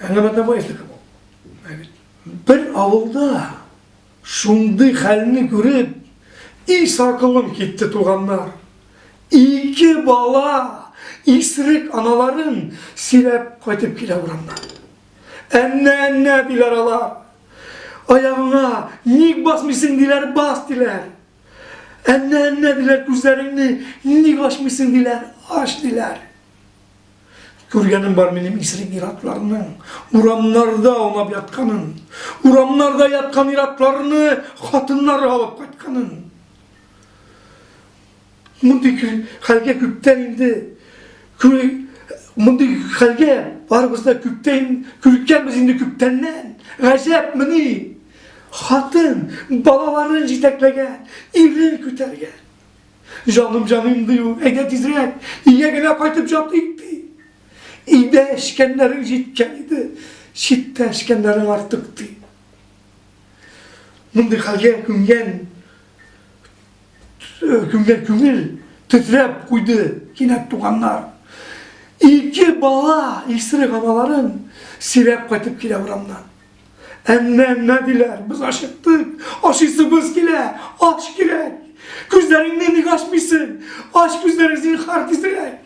Әңгәмәдә вайзлык бу. Бер авылда шундый хәлне күреп, и сакылым китте туганнар. Ике бала исрек аналарын сөйләп кайтып килә урамнан. Әннә-әннә диләр алар. Аягыңа ник басмыйсың диләр, бас диләр. Әннә, әннә, диләр, күзләреңне ник ачмыйсың, диләр, ач, диләр. Күргәнем бар минем исерек иратларның, урамнарда аунап ятканын, урамнарда яткан иратларны хатыннары алып кайтканын. Мондый хәлгә күптән инде мондый хәлгә барыбыз да күптән күркәнбез инде күптәннән. Гаҗәпмени? Хатын, балаларын җитәкләгән, ирен күтәргән. Җаным, җаным, ди ул, әйдә тизрәк, өйгә генә кайтып җатыйк, ди. Өйдә эчкәннәрең җиткән иде, читтә эчкәннәрең артык, ди. Мондый хәлгә күнгән күнгән күңел тетрәп куйды кинәт туганнар. Ике бала исерек аналарын сөйрәп кайтып килә урамнан. Әннә-әннә диләр, без ачыктык, ашыйсыбыз килә, ач кирәк. Күзләреңне ник ачмыйсың? Ач күзләрең зинхар тизрәк.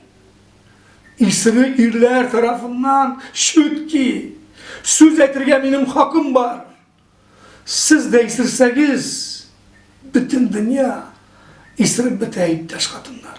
Исеме ирләр тарафыннан чүтки. Сүз әйтергә минем хакым бар. Сез дә исерсәгез, бөтен дөнья исереп бетә, иптәш хатыннар.